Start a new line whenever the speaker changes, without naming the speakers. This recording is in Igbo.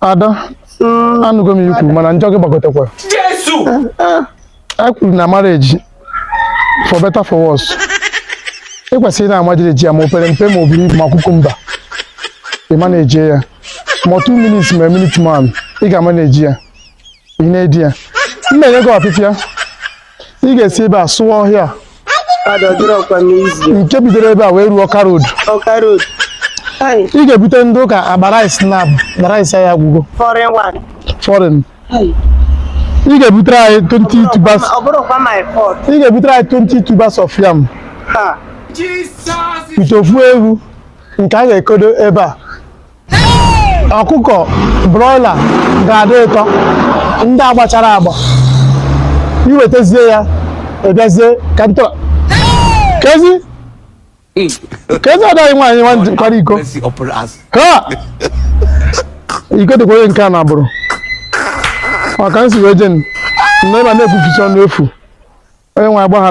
ada anụgo m ihe i kwuru mana njọ gị gbagotekwa Jesu! a kwuru na marriage for better for worse ị kwesịrị ịna-amanage ya ma o pere mpe ma o buru ibu ma cucumber ị manage ya ma two minutes ma minute man ị ga-amanage ya ị na-edi ya m ma-enye gị ọpịpịa ị ga-esi ebe a sụọ ọhịa nke bidoro ebe a wee ruo ọka road
ị
ga-ebute ndị ụka akpa rice na akpa rice anyị agwụgo foreign ị ga-ebutere anyị 20
tubers ị ga-ebutere
anyị 20 tubers of yam
ite ofu ewu
nke a ga-ekodo ebe a ọkụkọ broiler ga-adị ụtọ ndị agbachara agba i wetazie ya a bịazie ka m tọrọ kezi kezi adaghị nwaanyị nwa ndị kwara iko Mercy upon us. ha iko dịkwa onye nke a na agbụrụ maka nsogbu ejen nne ma na-ekwuchicha ọnụ efu onye nwe anyị gbaghara